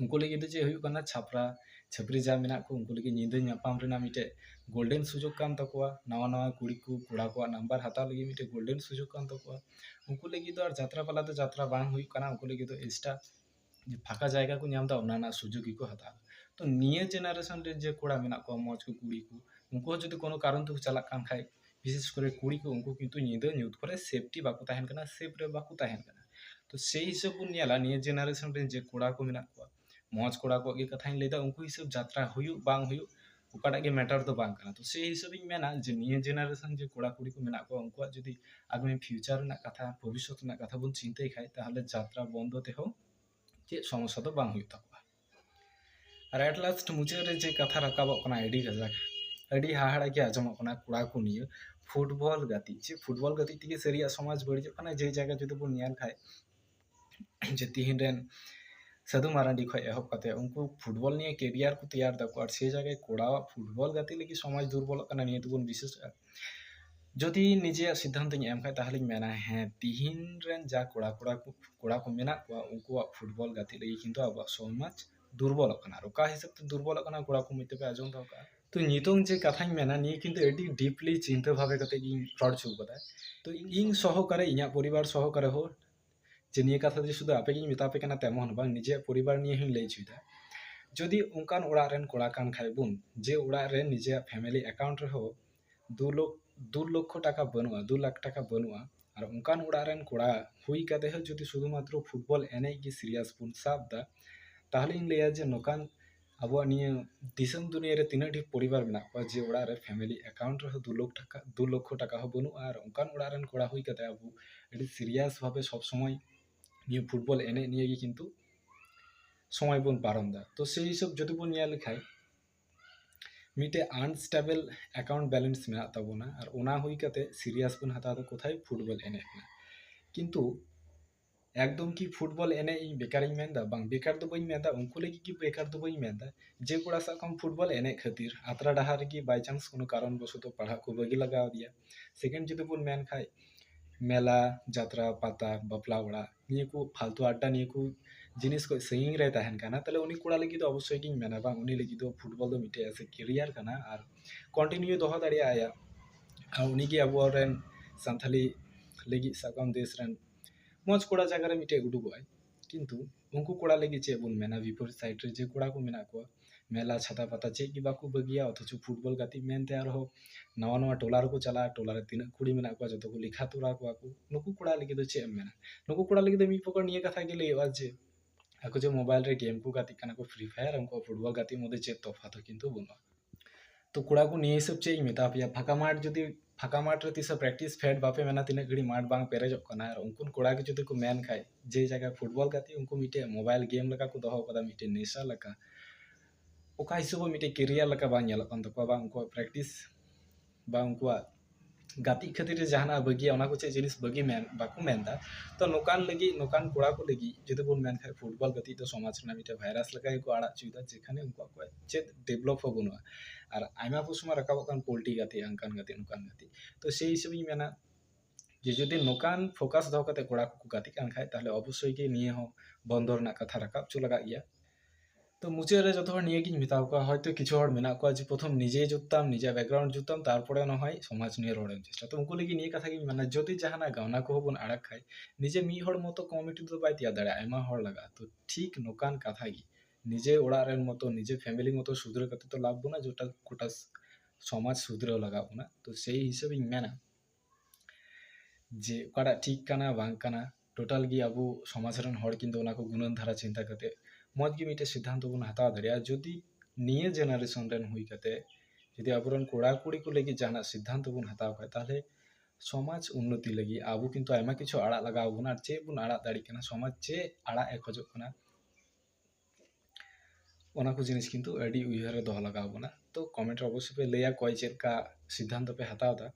ᱩᱱᱠᱩ ᱞᱟᱹᱜᱤᱫ ᱫᱚ ᱪᱮᱫ ᱦᱩᱭᱩᱜ ᱠᱟᱱᱟ ᱪᱷᱟᱯᱨᱟ ᱪᱷᱟᱹᱯᱨᱤ ᱡᱟᱦᱟᱸᱭ ᱢᱮᱱᱟᱜ ᱠᱚ ᱩᱱᱠᱩ ᱞᱟᱹᱜᱤᱫ ᱧᱤᱫᱟᱹ ᱧᱟᱯᱟᱢ ᱨᱮᱱᱟᱜ ᱢᱤᱫᱴᱮᱡ ᱜᱳᱞᱰᱮᱱ ᱥᱩᱡᱳᱜᱽ ᱠᱟᱱ ᱛᱟᱠᱚᱣᱟ ᱱᱟᱣᱟ ᱱᱟᱣᱟ ᱠᱩᱲᱤ ᱠᱚ ᱠᱚᱲᱟ ᱠᱚᱣᱟᱜ ᱱᱟᱢᱵᱟᱨ ᱦᱟᱛᱟᱣ ᱞᱟᱹᱜᱤᱫ ᱢᱤᱫᱴᱮᱡ ᱜᱳᱞᱰᱮᱱ ᱥᱩᱡᱳᱜᱽ ᱠᱟᱱ ᱛᱟᱠᱚᱣᱟ ᱩᱱᱠᱩ ᱞᱟᱹᱜᱤᱫ ᱫᱚ ᱟᱨ ᱡᱟᱛᱨᱟ ᱯᱟᱞᱟ ᱫᱚ ᱡᱟᱛᱨᱟ ᱵᱟᱝ ᱦᱩᱭᱩᱜ ᱠᱟᱱᱟ ᱩᱱᱠᱩ ᱞᱟᱹᱜᱤᱫ ᱫᱚ ᱮᱠᱥᱴᱨᱟ ᱯᱷᱟᱸᱠᱟ ᱡᱟᱭᱜᱟ ᱠᱚ ᱧᱟᱢᱫᱟ ᱚᱱᱟ ᱨᱮᱱᱟᱜ ᱥᱩᱡᱳᱜᱽ ᱜᱮᱠᱚ ᱦᱟᱛᱟᱣ ᱫᱟ ᱛᱚ ᱱᱤᱭᱟᱹ ᱡᱮᱱᱟᱨᱮᱥᱚᱱ ᱨᱮ ᱡᱮ ᱠᱚᱲᱟ ᱢᱮᱱᱟᱜ ᱠᱚᱣᱟ ᱢᱚᱡᱽ ᱠᱚ ᱠᱩᱲᱤ ᱠᱚ ᱩᱱᱠᱩ ᱦᱚᱸ ᱡᱩᱫᱤ ᱠᱳᱱᱳ ᱠᱟᱨᱚᱱ ᱛᱮᱠᱚ ᱪᱟᱞᱟᱜ ᱠᱟᱱ ᱠᱷᱟᱡ ᱵᱤᱥᱮᱥ ᱠᱚᱨᱮ ᱠᱩᱲᱤ ᱠᱚ ᱩᱱᱠᱩ ᱠᱤᱱᱛᱩ ᱧᱤᱫᱟᱹ ᱧᱩᱛ ᱠᱚᱨᱮ ᱥᱮᱯᱴᱤ ᱵᱟᱠᱚ ᱛᱟᱦᱮᱱ ᱠᱟᱱᱟ ᱥᱮᱯ ᱨᱮ ᱵᱟᱠᱚ ᱛᱟᱦᱮᱱ ᱠᱟᱱᱟ ᱛᱚ ᱥᱮᱭ ᱦᱤᱥᱟᱹᱵ ᱵᱚᱱ ᱧᱮᱞᱟ ᱱᱤᱭᱟᱹ ᱡᱮᱱᱟᱨᱮᱥᱚᱱ ᱨᱮ ᱡᱮ ᱠᱚᱲᱟ ᱠᱚ ᱢᱮᱱᱟᱜ ᱠᱚᱣᱟ ᱢᱚᱡᱽ ᱠᱚᱲᱟ ᱠᱚᱣᱟᱜ ᱜᱮ ᱠᱟᱛᱷᱟᱧ ᱞᱟᱹᱭᱫᱟ ᱩᱱᱠᱩ ᱦᱤᱥᱟᱹᱵ ᱡᱟᱛᱨᱟ ᱦᱩᱭᱩᱜ ᱵᱟᱝ ᱦᱩᱭᱩᱜ ᱚᱠᱟᱴᱟᱜ ᱜᱮ ᱢᱮᱴᱟᱨ ᱫᱚ ᱵᱟᱝ ᱠᱟᱱᱟ ᱛᱚ ᱥᱮᱭ ᱦᱤᱥᱟᱹᱵ ᱤᱧ ᱢᱮᱱᱟ ᱡᱮ ᱱᱤᱭᱟᱹ ᱡᱮᱱᱟᱨᱮᱥᱚᱱ ᱡᱮ ᱠᱚᱲᱟ ᱠᱩᱲᱤ ᱠᱚ ᱢᱮᱱᱟᱜ ᱠᱚᱣᱟ ᱩᱱᱠᱩᱣᱟᱜ ᱡᱩᱫᱤ ᱟᱜᱟᱢᱤ ᱯᱷᱤᱭᱩᱪᱟᱨ ᱨᱮᱱᱟᱜ ᱠᱟᱛᱷᱟ ᱵᱷᱚᱵᱤᱥᱥᱚᱛ ᱨᱮᱱᱟᱜ ᱠᱟᱛᱷᱟ ᱵᱚᱱ ᱪᱤᱱᱛᱟᱹᱭ ᱠᱷᱟᱡ ᱛᱟᱦᱚᱞᱮ ᱡᱟᱛᱨᱟ ᱵᱚᱱᱫᱚ ᱛᱮᱦᱚᱸ ᱪᱮᱫ ᱥᱚᱢᱚᱥᱥᱟ ᱫᱚ ᱵᱟᱝ ᱦᱩᱭᱩᱜ ᱛᱟᱠᱚᱣᱟ ᱟᱨ ᱮᱴ ᱞᱟᱥᱴ ᱢᱩᱪᱟᱹᱫ ᱨᱮ ᱡᱮ ᱠᱟᱛᱷᱟ ᱨᱟᱠᱟᱵᱚᱜ ᱠᱟᱱᱟ ᱟᱹᱰᱤ ᱠᱟᱡᱟᱠ ᱟᱹᱰᱤ ᱦᱟᱦᱟᱲᱟᱜ ᱜᱮ ᱟᱸᱡᱚᱢᱚᱜ ᱠᱟᱱᱟ ᱠᱚᱲᱟ ᱠᱚ ᱱᱤᱭᱟᱹ ᱯᱷᱩᱴᱵᱚᱞ ᱜᱟᱛᱮᱜ ᱪᱮᱫ ᱯᱷᱩᱴᱵᱚᱞ ᱜᱟᱛᱮᱜ ᱛᱮᱜᱮ ᱥᱟᱹᱨᱤᱭᱟᱜ ᱥᱚᱢᱟᱡᱽ ᱵᱟᱹᱲᱤᱡᱚᱜ ᱠᱟᱱᱟ ᱡᱮ ᱡᱟᱭᱜᱟ ᱡᱩᱫᱤ ᱵᱚᱱ ᱧᱮᱞ ᱠᱷᱟᱡ ᱡᱮ ᱛᱤᱦᱤᱧ ᱨᱮᱱ ᱥᱟᱹᱫᱷᱩ ᱢᱟᱨᱟᱱᱰᱤ ᱠᱷᱚᱡ ᱮᱦᱚᱵ ᱠᱟᱛᱮ ᱩᱱᱠᱩ ᱯᱷᱩᱴᱵᱚᱞ ᱱᱤᱭᱮ ᱠᱮᱨᱤᱭᱟᱨ ᱠᱚ ᱛᱮᱭᱟᱨ ᱫᱟᱠᱚ ᱟᱨ ᱥᱮ ᱡᱟᱭᱜᱟ ᱠᱚᱲᱟᱣᱟᱜ ᱯᱷᱩᱴᱵᱚᱞ ᱜᱟᱛᱮᱜ ᱞᱟᱹᱜᱤᱫ ᱥᱚᱢᱟᱡᱽ ᱫᱩᱨᱵᱚᱞᱚᱜ ᱠᱟᱱᱟ ᱱᱤᱭᱟᱹ ᱫᱚᱵᱚᱱ ᱵᱤᱥᱮᱥ ᱡᱩᱫᱤ ᱱᱤᱡᱮᱭᱟᱜ ᱥᱤᱫᱽᱫᱷᱟᱱᱛᱚᱧ ᱮᱢ ᱠᱷᱟᱡ ᱛᱟᱦᱚᱞᱮᱧ ᱢᱮᱱᱟ ᱦᱮᱸ ᱛᱤᱦᱤᱧ ᱨᱮᱱ ᱡᱟ ᱠᱚᱲᱟ ᱠᱚᱲᱟ ᱠᱚ ᱠᱚᱲᱟ ᱠᱚ ᱢᱮᱱᱟᱜ ᱠᱚᱣᱟ ᱩᱱᱠᱩᱣᱟᱜ ᱯᱷᱩᱴᱵᱚᱞ ᱜᱟᱛᱮᱜ ᱞᱟᱹᱜᱤᱫ ᱠᱤᱱᱛᱩ ᱟᱵᱚᱣᱟᱜ ᱥᱚᱢᱟᱡᱽ ᱫᱩᱨᱵᱚᱞᱚᱜ ᱠᱟᱱᱟ ᱟᱨ ᱚᱠᱟ ᱦᱤᱥᱟᱹᱵ ᱛᱮ ᱫᱩᱨᱵᱚᱞᱚᱜ ᱠᱟᱱᱟ ᱠᱚᱲᱟ ᱠᱚ ᱢᱤᱫ ᱛᱮᱯᱮ ᱟᱸᱡᱚᱢ ᱫᱚᱦᱚ ᱠᱟᱜᱼᱟ ᱛᱚ ᱱᱤᱛᱚᱝ ᱡᱮ ᱠᱟᱛᱷᱟᱧ ᱢᱮᱱᱟ ᱱᱤᱭᱟᱹ ᱠᱤᱱᱛᱩ ᱟᱹᱰᱤ ᱰᱤᱯᱞᱤ ᱪᱤᱱᱛᱟᱹ ᱵᱷᱟᱵᱮ ᱠᱟᱛᱮ ᱜᱤᱧ ᱨᱚᱲ ᱦᱚᱪᱚᱣ ᱠᱟᱫᱟ ᱛᱚ ᱤᱧ ᱥᱚᱦᱚᱠᱟᱨᱮ ᱤᱧᱟᱹᱜ ᱯᱚᱨᱤᱵᱟᱨ ᱥᱚᱦᱚᱠᱟᱨᱮ ᱦᱳ ᱡᱮ ᱱᱤᱭᱟᱹ ᱠᱟᱛᱷᱟ ᱫᱚ ᱥᱩᱫᱷᱩ ᱟᱯᱮ ᱜᱤᱧ ᱢᱮᱛᱟ ᱯᱮ ᱠᱟᱱᱟ ᱛᱮᱢᱚᱱ ᱦᱚᱸ ᱵᱟᱝ ᱱᱤᱡᱮᱨᱟᱜ ᱯᱚᱨᱤᱵᱟᱨ ᱱᱤᱭᱮ ᱦᱚᱸᱧ ᱞᱟᱹᱭ ᱦᱚᱪᱚᱭᱮᱫᱟ ᱡᱩᱫᱤ ᱚᱱᱠᱟᱱ ᱚᱲᱟᱜ ᱨᱮᱱ ᱠᱚᱲᱟ ᱠᱟᱱ ᱠᱷᱟᱡ ᱵᱚᱱ ᱡᱮ ᱚᱲᱟᱜ ᱨᱮ ᱱᱤᱡᱮᱨᱟᱜ ᱯᱷᱮᱢᱮᱞᱤ ᱮᱠᱟᱣᱩᱱᱴ ᱨᱮᱦᱚᱸ ᱫᱩ ᱞᱟᱠᱷ ᱫᱩ ᱞᱚᱠᱠᱷᱚ ᱴᱟᱠᱟ ᱵᱟᱹᱱᱩᱜᱼᱟ ᱫᱩ ᱞᱟᱠᱷ ᱴᱟᱠᱟ ᱵᱟᱹᱱᱩᱜᱼᱟ ᱟᱨ ᱚᱱᱠᱟᱱ ᱚᱲᱟᱜ ᱨᱮᱱ ᱠᱚᱲᱟ ᱦᱩᱭ ᱠᱟᱛᱮ ᱦᱚᱸ ᱡᱩᱫᱤ ᱥᱩᱫᱷᱩ ᱢᱟᱛᱨᱚ ᱯᱷᱩᱴᱵᱚᱞ ᱮᱱᱮᱡ ᱜᱮ ᱥᱤᱨᱤᱭᱟᱥ ᱵᱚᱱ ᱥᱟᱵ ᱫᱟ ᱛᱟᱦᱚᱞᱮᱧ ᱞᱟᱹᱭᱟ ᱡᱮ ᱱᱚᱝᱠᱟᱱ ᱟᱵᱚᱣᱟᱜ ᱱᱤᱭᱟᱹ ᱫᱤᱥᱚᱢ ᱫᱩᱱᱤᱭᱟᱹ ᱨᱮ ᱛᱤᱱᱟᱹᱜ ᱰᱷᱮᱨ ᱯᱚᱨᱤᱵᱟᱨ ᱢᱮᱱᱟᱜ ᱠᱚᱣᱟ ᱡᱮ ᱚᱲᱟᱜ ᱨᱮ ᱯᱷᱮᱢᱮᱞᱤ ᱮᱠᱟᱣᱩᱱᱴ ᱨᱮᱦᱚᱸ ᱫᱩ ᱞᱟᱠᱷ ᱴᱟᱠᱟ ᱫᱩ ᱞᱚᱠᱠᱷᱚ ᱴᱟᱠᱟ ᱦᱚᱸ ᱵᱟᱹᱱᱩᱜᱼᱟ ᱟᱨ ᱚᱱᱠᱟᱱ ᱚᱲᱟᱜ ᱨᱮᱱ ᱠᱚᱲᱟ ᱦᱩᱭ ᱠᱟᱛᱮ ᱟᱵᱚ ᱟᱹᱰᱤ ᱥᱤᱨᱤᱭᱟᱥ ᱵᱷᱟᱵᱮ ᱥᱚᱵ ᱥᱚᱢᱚᱭ ᱱᱤᱭᱟᱹ ᱯᱷᱩᱴᱵᱚᱞ ᱮᱱᱮᱡ ᱱᱤᱭᱮ ᱜᱮ ᱠᱤᱱᱛᱩ ᱥᱚᱢᱚᱭ ᱵᱚᱱ ᱯᱟᱨᱚᱢᱫᱟ ᱛᱚ ᱥᱮᱭ ᱦᱤᱥᱟᱹᱵ ᱡᱩᱫᱤ ᱵᱚᱱ ᱧᱮᱞ ᱞᱮᱠᱷᱟᱡ ᱢᱤᱫᱴᱮᱡ ᱟᱱᱥᱴᱮᱵᱮᱞ ᱮᱠᱟᱣᱩᱱᱴ ᱵᱮᱞᱮᱱᱥ ᱢᱮᱱᱟᱜ ᱛᱟᱵᱚᱱᱟ ᱟᱨ ᱚᱱᱟ ᱦᱩᱭ ᱠᱟᱛᱮ ᱥᱤᱨᱤᱭᱟᱥ ᱵᱚᱱ ᱦᱟᱛᱟᱣᱫᱟ ᱠᱚᱛᱷᱟᱭ ᱯᱷᱩᱴᱵᱚᱞ ᱮᱱᱮᱡ ᱨᱮ ᱠᱤᱱᱛᱩ ᱮᱠᱫᱚᱢ ᱠᱤ ᱯᱷᱩᱴᱵᱚᱞ ᱮᱱᱮᱡ ᱤᱧ ᱵᱮᱠᱟᱨᱤᱧ ᱢᱮᱱᱫᱟ ᱵᱟᱝ ᱵᱮᱠᱟᱨ ᱫᱚ ᱵᱟᱹᱧ ᱢᱮᱱᱫᱟ ᱩᱱᱠᱩ ᱞᱟᱹᱜᱤᱫ ᱜᱮ ᱵᱮᱠᱟᱨ ᱫᱚ ᱵᱟᱹᱧ ᱢᱮᱱᱫᱟ ᱡᱮ ᱠᱚᱲᱟ ᱥᱟᱵ ᱠᱟᱜ ᱢᱮ ᱯᱷᱩᱴᱵᱚᱞ ᱮᱱᱮᱡ ᱠᱷᱟᱹᱛᱤᱨ ᱟᱛᱨᱟ ᱰᱟᱦᱟᱨ ᱨᱮᱜᱮ ᱵᱟᱭ ᱪᱟᱱᱥ ᱠᱳᱱᱳ ᱠᱟᱨᱚᱱ ᱵᱚᱥᱚᱛᱚ ᱯᱟᱲᱦᱟᱜ ᱠᱚ ᱵᱟᱹᱜᱤ ᱞᱟᱜᱟᱣ ᱫᱮᱭᱟ ᱥᱮᱠᱮᱱᱰ ᱡᱩᱫᱤ ᱵᱚᱱ ᱢᱮᱱ ᱠᱷᱟᱡ ᱢᱮᱞᱟ ᱡᱟᱛᱨᱟ ᱯᱟᱛᱟ ᱵᱟᱯᱞᱟ ᱚᱲᱟᱜ ᱱᱤᱭᱟᱹ ᱠᱚ ᱯᱷᱟᱞᱛᱩ ᱟᱰᱰᱟ ᱱᱤᱭᱟᱹ ᱠᱚ ᱡᱤᱱᱤᱥ ᱠᱷᱚᱡ ᱥᱟᱺᱜᱤᱧ ᱨᱮᱭ ᱛᱟᱦᱮᱱ ᱠᱟᱱᱟ ᱛᱟᱦᱚᱞᱮ ᱩᱱᱤ ᱠᱚᱲᱟ ᱞᱟᱹᱜᱤᱫ ᱫᱚ ᱚᱵᱚᱥᱥᱳᱭ ᱜᱤᱧ ᱢᱮᱱᱟ ᱵᱟᱝ ᱩᱱᱤ ᱞᱟᱹᱜᱤᱫ ᱫᱚ ᱯᱷᱩᱴᱵᱚᱞ ᱫᱚ ᱢᱤᱫᱴᱮᱡ ᱮᱡ ᱮ ᱠᱮᱨᱤᱭᱟᱨ ᱠᱟᱱᱟ ᱟᱨ ᱠᱚᱱᱴᱤᱱᱤᱭᱩᱭ ᱫᱚᱦᱚ ᱫᱟᱲᱮᱭᱟᱜᱼᱟ ᱟᱭᱟᱜ ᱟᱨ ᱩᱱᱤ ᱜᱮ ᱟᱵᱚ ᱨᱮᱱ ᱥᱟᱱᱛᱷᱟᱞᱤ ᱞᱟᱹᱜᱤᱫ ᱥᱟᱵ ᱠᱟᱜ ᱢᱮ ᱫᱮᱥ ᱨᱮᱱ ᱢᱚᱡᱽ ᱠᱚᱲᱟ ᱡᱟᱭᱜᱟ ᱨᱮ ᱢᱤᱫᱴᱮᱡ ᱩᱰᱩᱠᱚᱜᱼᱟᱭ ᱠᱤᱱᱛᱩ ᱩᱱᱠᱩ ᱠᱚᱲᱟ ᱞᱟᱹᱜᱤᱫ ᱪᱮᱫ ᱵᱚᱱ ᱢᱮᱱᱟ ᱵᱤᱯᱚᱨᱤᱛ ᱥᱟᱭᱤᱰ ᱨᱮ ᱡᱮ ᱠᱚᱲᱟ ᱠᱚ ᱢᱮᱱᱟᱜ ᱠᱚᱣᱟ ᱢᱮᱞᱟ ᱪᱷᱟᱛᱟ ᱯᱟᱛᱟ ᱪᱮᱫ ᱜᱮ ᱵᱟᱠᱚ ᱵᱟᱹᱜᱤᱭᱟ ᱚᱛᱷᱚᱪᱚ ᱯᱷᱩᱴᱵᱚᱞ ᱜᱟᱛᱮᱜ ᱢᱮᱱᱛᱮ ᱟᱨᱦᱚᱸ ᱱᱟᱣᱟ ᱱᱟᱣᱟ ᱴᱚᱞᱟ ᱨᱮᱠᱚ ᱪᱟᱞᱟᱜᱼᱟ ᱴᱚᱞᱟ ᱨᱮ ᱛᱤᱱᱟᱹᱜ ᱠᱩᱲᱤ ᱢᱮᱱᱟᱜ ᱠᱚᱣᱟ ᱡᱚᱛᱚ ᱠᱚ ᱞᱮᱠᱷᱟ ᱛᱚᱨᱟ ᱠᱚᱣᱟ ᱠᱚ ᱱᱩᱠᱩ ᱠᱚᱲᱟ ᱞᱟᱹᱜᱤᱫ ᱫᱚ ᱪᱮᱫ ᱮᱢ ᱢᱮᱱᱟ ᱱᱩᱠᱩ ᱠᱚᱲᱟ ᱞᱟᱹᱜᱤᱫ ᱫᱚ ᱢᱤᱫ ᱯᱨᱚᱠᱟᱨ ᱱᱤᱭᱟᱹ ᱠᱟᱛᱷᱟ ᱜᱮ ᱞᱟᱹᱭᱚᱜᱼᱟ ᱡᱮ ᱟᱠᱚ ᱡᱮ ᱢᱳᱵᱟᱭᱤᱞ ᱨᱮ ᱜᱮᱢ ᱠᱚ ᱜᱟᱛᱮᱜ ᱠᱟᱱᱟ ᱠᱚ ᱯᱷᱨᱤ ᱯᱷᱟᱭᱟᱨ ᱩᱱᱠᱩᱣᱟᱜ ᱯᱷᱩᱴᱵᱚᱞ ᱜᱟᱛᱮᱜ ᱢᱚᱫᱽᱫᱷᱮ ᱪᱮᱫ ᱛᱚᱯᱷᱟᱛ ᱦᱚᱸ ᱠᱤᱱᱛᱩ ᱵᱟᱹᱱᱩᱜᱼᱟ ᱛᱚ ᱠᱚᱲᱟ ᱠᱚ ᱱᱤᱭᱟᱹ ᱦᱤᱥᱟᱹᱵ ᱪᱮᱫ ᱤᱧ ᱢᱮᱛᱟ ᱯᱮᱭᱟ ᱯᱷᱟᱸᱠᱟ ᱢᱟᱴᱷ ᱡᱩᱫᱤ ᱯᱷᱟᱸᱠᱟ ᱢᱟᱴᱷ ᱨᱮ ᱛᱤᱥ ᱦᱚᱸ ᱯᱨᱮᱠᱴᱤᱥ ᱯᱷᱮᱰ ᱵᱟᱯᱮ ᱢᱮᱱᱟ ᱛᱤᱱᱟᱹᱜ ᱜᱷᱟᱹᱲᱤᱡ ᱢᱟᱴᱷ ᱵᱟᱝ ᱯᱮᱨᱮᱡᱚᱜ ᱠᱟᱱᱟ ᱟᱨ ᱩᱱᱠᱩ ᱠᱚᱲᱟ ᱜᱮ ᱡᱩᱫᱤ ᱠᱚ ᱢᱮᱱ ᱠᱷᱟᱡ ᱡᱮ ᱡᱟᱭᱜᱟ ᱨᱮ ᱯᱷᱩᱴᱵᱚᱞ ᱜᱟᱛᱮᱜ ᱩᱱᱠᱩ ᱢᱤᱫᱴᱮᱡ ᱢᱳᱵᱟᱭᱤᱞ ᱜᱮᱢ ᱞᱮᱠᱟ ᱠᱚ ᱫᱚᱦᱚᱣ ᱠᱟᱫᱟ ᱢᱤᱫᱴᱮᱡ ᱱᱮᱥᱟ ᱞᱮᱠᱟ ᱚᱠᱟ ᱦᱤᱥᱟᱹᱵ ᱦᱚᱸ ᱢᱤᱫᱴᱮᱡ ᱠᱮᱨᱤᱭᱟᱨ ᱞᱮᱠᱟ ᱵᱟᱝ ᱧᱮᱞᱚᱜ ᱠᱟᱱ ᱛᱟᱠᱚᱣᱟ ᱵᱟᱝ ᱩᱱᱠᱩᱣᱟᱜ ᱯᱨᱮᱠᱴᱤᱥ ᱵᱟ ᱩᱱᱠᱩᱣᱟᱜ ᱜᱟᱛᱮᱜ ᱠᱷᱟᱹᱛᱤᱨ ᱛᱮ ᱡᱟᱦᱟᱱᱟᱜ ᱵᱟᱹᱜᱤᱭᱟ ᱚᱱᱟ ᱠᱚ ᱪᱮᱫ ᱡᱤᱱᱤᱥ ᱵᱟᱹᱜᱤ ᱢᱮᱱ ᱵᱟᱠᱚ ᱢᱮᱱᱫᱟ ᱛᱚ ᱱᱚᱝᱠᱟᱱ ᱞᱟᱹᱜᱤᱫ ᱱᱚᱝᱠᱟᱱ ᱠᱚᱲᱟ ᱠᱚ ᱞᱟᱹᱜᱤᱫ ᱡᱩᱫᱤ ᱵᱚᱱ ᱢᱮᱱ ᱠᱷᱟᱱ ᱯᱷᱩᱴᱵᱚᱞ ᱜᱟᱛᱮᱜ ᱫᱚ ᱥᱚᱢᱟᱡᱽ ᱨᱮᱱᱟᱜ ᱢᱤᱫᱴᱮᱱ ᱵᱷᱟᱭᱨᱟᱥ ᱞᱮᱠᱟ ᱜᱮᱠᱚ ᱟᱲᱟᱜ ᱦᱚᱪᱚᱭᱮᱫᱟ ᱡᱮᱠᱷᱟᱱᱮ ᱩᱱᱠᱩᱣᱟᱜ ᱠᱚᱣᱟᱜ ᱪᱮᱫ ᱰᱮᱵᱷᱞᱚᱯ ᱦᱚᱸ ᱵᱟᱹᱱᱩᱜᱼᱟ ᱟᱨ ᱟᱭᱢᱟ ᱠᱚ ᱥᱚᱢᱚᱭ ᱨᱟᱠᱟᱵᱚᱜ ᱠᱟᱱᱟ ᱯᱳᱞᱴᱤ ᱜᱟᱛᱮᱜ ᱦᱟᱱᱠᱟᱱ ᱜᱟᱛᱮᱜ ᱱᱚᱝᱠᱟᱱ ᱜᱟᱛᱮᱜ ᱛᱚ ᱥᱮᱭ ᱦᱤᱥᱟᱹᱵᱤᱧ ᱢᱮᱱᱟ ᱡᱮ ᱡᱩᱫᱤ ᱱᱚᱝᱠᱟᱱ ᱯᱷᱳᱠᱟᱥ ᱫᱚᱦᱚ ᱠᱟᱛᱮ ᱠᱚᱲᱟ ᱠᱚᱠᱚ ᱜᱟᱛᱮᱜ ᱠᱟᱱ ᱠᱷᱟᱡ ᱛᱟᱦᱚᱞᱮ ᱚᱵᱚᱥᱥᱳᱭ ᱜᱮ ᱱᱤᱭᱟᱹ ᱦᱚᱸ ᱵᱚᱱᱫᱚ ᱨᱮᱱᱟᱜ ᱠᱟᱛᱷᱟ ᱨᱟᱠᱟᱵ ᱦᱚᱪᱚ ᱞᱟᱜᱟᱜ ᱜᱮᱭᱟ ᱛᱚ ᱢᱩᱪᱟᱹᱫ ᱨᱮ ᱡᱚᱛᱚ ᱦᱚᱲ ᱱᱤᱭᱟᱹ ᱜᱤᱧ ᱢᱮᱛᱟᱣ ᱠᱚᱣᱟ ᱦᱚᱭᱛᱳ ᱠᱤᱪᱷᱩ ᱦᱚᱲ ᱢᱮᱱᱟᱜ ᱠᱚᱣᱟ ᱡᱮ ᱯᱨᱚᱛᱷᱚᱢ ᱱᱤᱡᱮ ᱡᱩᱛ ᱛᱟᱢ ᱱᱤᱡᱮᱨᱟᱜ ᱵᱮᱠᱜᱨᱟᱣᱩᱱᱰ ᱡᱩᱛ ᱛᱟᱢ ᱛᱟᱨᱯᱚᱨᱮ ᱱᱟ ᱦᱚᱭ ᱥᱚᱢᱟᱡᱽ ᱱᱤᱭᱮ ᱨᱚᱲᱮᱢ ᱪᱮᱥᱴᱟᱭᱟ ᱛᱚ ᱩᱱᱠᱩ ᱞᱟᱹᱜᱤᱫ ᱱᱤᱭᱟᱹ ᱠᱟᱛᱷᱟ ᱜᱤᱧ ᱢᱮᱱᱟ ᱡᱩᱫᱤ ᱡᱟᱦᱟᱱᱟᱜ ᱜᱟᱣᱱᱟ ᱠᱚᱦᱚᱸ ᱵᱚᱱ ᱟᱲᱟᱜᱽ ᱠᱷᱟᱡ ᱱᱤᱡᱮ ᱢᱤᱫ ᱦᱚᱲ ᱢᱚᱛᱚ ᱠᱚᱢᱤᱴᱤ ᱫᱚ ᱵᱟᱭ ᱛᱮᱭᱟᱨ ᱫᱟᱲᱮᱭᱟᱜᱼᱟ ᱟᱭᱢᱟ ᱦᱚᱲ ᱞᱟᱜᱟᱜᱼᱟ ᱛᱚ ᱴᱷᱤᱠ ᱱᱚᱝᱠᱟᱱ ᱠᱟᱛᱷᱟ ᱜᱮ ᱱᱤᱡᱮ ᱚᱲᱟᱜ ᱨᱮᱱ ᱢᱚᱛᱚ ᱱᱤᱡᱮ ᱯᱷᱮᱢᱮᱞᱤ ᱢᱚᱛᱚ ᱥᱩᱫᱷᱨᱟᱹᱣ ᱠᱟᱛᱮ ᱛᱚ ᱞᱟᱵᱷ ᱵᱟᱹᱱᱩᱜᱼᱟ ᱡᱮᱴᱟ ᱜᱚᱴᱟ ᱥᱚᱢᱟᱡᱽ ᱥᱩᱫᱷᱨᱟᱹᱣ ᱞᱟᱜᱟᱣ ᱵᱚᱱᱟ ᱛᱚ ᱥᱮᱭ ᱦᱤᱥᱟᱹᱵᱤᱧ ᱢᱮᱱᱟ ᱡᱮ ᱚᱠᱟᱴᱟᱜ ᱴᱷᱤᱠ ᱠᱟᱱᱟ ᱵᱟᱝ ᱠᱟᱱᱟ ᱴᱳᱴᱟᱞ ᱜᱮ ᱟᱵᱚ ᱥᱚᱢᱟᱡᱽ ᱨᱮᱱ ᱦᱚᱲ ᱠᱤᱱᱛᱩ ᱚᱱᱟ ᱠᱚ ᱜᱩᱱᱟᱹᱱ ᱫᱷᱟᱨᱟ ᱪᱤᱱᱛᱟᱹ ᱠᱟᱛᱮ ᱢᱚᱡᱽ ᱜᱮ ᱢᱤᱫᱴᱮᱱ ᱥᱤᱫᱽᱫᱷᱟᱱᱛᱚ ᱵᱚᱱ ᱦᱟᱛᱟᱣ ᱫᱟᱲᱮᱭᱟᱜᱼᱟ ᱡᱩᱫᱤ ᱱᱤᱭᱟᱹ ᱡᱮᱱᱟᱨᱮᱥᱚᱱ ᱨᱮᱱ ᱦᱩᱭ ᱠᱟᱛᱮ ᱡᱩᱫᱤ ᱟᱵᱚ ᱨᱮᱱ ᱠᱚᱲᱟᱼᱠᱩᱲᱤ ᱠᱚ ᱞᱟᱹᱜᱤᱫ ᱡᱟᱦᱟᱱᱟᱜ ᱥᱤᱫᱽᱫᱷᱟᱱᱛᱚ ᱵᱚᱱ ᱦᱟᱛᱟᱣ ᱠᱷᱟᱱ ᱛᱟᱦᱚᱞᱮ ᱥᱚᱢᱟᱡᱽ ᱩᱱᱱᱚᱛᱤ ᱞᱟᱹᱜᱤᱫ ᱟᱵᱚ ᱠᱤᱱᱛᱩ ᱟᱭᱢᱟ ᱠᱤᱪᱷᱩ ᱟᱲᱟᱜ ᱞᱟᱜᱟᱣ ᱵᱚᱱᱟ ᱟᱨ ᱪᱮᱫ ᱵᱚᱱ ᱟᱲᱟᱜ ᱫᱟᱲᱮᱭᱟᱜ ᱠᱟᱱᱟ ᱥᱚᱢᱟᱡᱽ ᱪᱮᱫ ᱟᱲᱟᱜ ᱮ ᱠᱷᱚᱡᱚᱜ ᱠᱟᱱᱟ ᱚᱱᱟ ᱠᱚ ᱡᱤᱱᱤᱥ ᱠᱤᱱᱛᱩ ᱟᱹᱰᱤ ᱩᱭᱦᱟᱹᱨ ᱨᱮ ᱫᱚᱦᱚ ᱞᱟᱜᱟᱣ ᱵᱚᱱᱟ ᱛᱚ ᱠᱚᱢᱮᱱᱴ ᱨᱮ ᱚᱵᱚᱥᱥᱳᱭ ᱯᱮ ᱞᱟᱹᱭᱟ ᱚᱠᱚᱭ ᱪᱮᱫ ᱞᱮᱠᱟ ᱥᱤᱫᱽᱫᱷᱟᱱᱛᱚ ᱯᱮ ᱦᱟᱛᱟᱣ ᱮᱫᱟ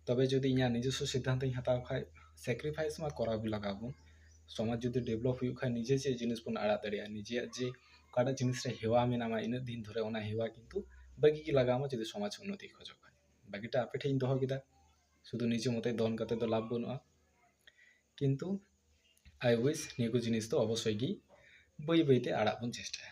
ᱛᱚᱵᱮ ᱡᱩᱫᱤ ᱤᱧᱟᱹᱜ ᱱᱤᱡᱚᱥᱥᱚ ᱥᱤᱫᱽᱫᱷᱟᱱᱛᱚᱧ ᱦᱟᱛᱟᱣ ᱠᱷᱟᱱ ᱥᱮᱠᱨᱤᱯᱷᱟᱭᱤᱥ ᱢᱟ ᱠᱚᱨᱟᱣ ᱜᱮ ᱞᱟᱜᱟᱣ ᱵᱚᱱ ᱥᱚᱢᱟᱡᱽ ᱡᱩᱫᱤ ᱰᱮᱵᱷᱞᱚᱯ ᱦᱩᱭᱩᱜ ᱠᱷᱟᱱ ᱱᱤᱡᱮ ᱪᱮᱫ ᱡᱤᱱᱤᱥ ᱵᱚᱱ ᱟᱲᱟᱜ ᱫᱟᱲᱮᱭᱟᱜᱼᱟ ᱱᱤᱡᱮᱭᱟᱜ ᱡᱮ ᱚᱠᱟᱴᱟᱜ ᱡᱤᱱᱤᱥ ᱨᱮ ᱦᱮᱣᱟ ᱢᱮᱱᱟᱢᱟ ᱤᱱᱟᱹᱜ ᱫᱤᱱ ᱫᱷᱚᱨᱮ ᱚᱱᱟ ᱦᱮᱣᱟ ᱠᱤᱱᱛᱩ ᱵᱟᱹᱜᱤ ᱜᱮ ᱞᱟᱜᱟᱣ ᱟᱢᱟ ᱡᱩᱫᱤ ᱥᱚᱢᱟᱡᱽ ᱩᱱᱱᱚᱛᱤᱭ ᱠᱷᱚᱡᱚᱜ ᱠᱷᱟᱱ ᱵᱟᱹᱜᱤᱴᱟᱜ ᱟᱯᱮ ᱴᱷᱮᱱᱤᱧ ᱫᱚᱦᱚ ᱠᱮᱫᱟ ᱥᱩᱫᱩ ᱱᱤᱡᱮ ᱢᱚᱛᱚ ᱫᱚᱱ ᱠᱟᱛᱮ ᱫᱚ ᱞᱟᱵᱷ ᱵᱟᱹᱱᱩᱜᱼᱟ ᱠᱤᱱᱛᱩ ᱟᱭ ᱩᱭᱤᱥ ᱱᱤᱭᱟᱹ ᱠᱚ ᱡᱤᱱᱤᱥ ᱫᱚ ᱚᱵᱚᱥᱥᱳᱭ ᱜᱮ ᱵᱟᱹᱭ ᱵᱟᱹᱭᱛᱮ ᱟᱲᱟᱜ ᱵᱚᱱ ᱪᱮᱥᱴᱟᱭᱟ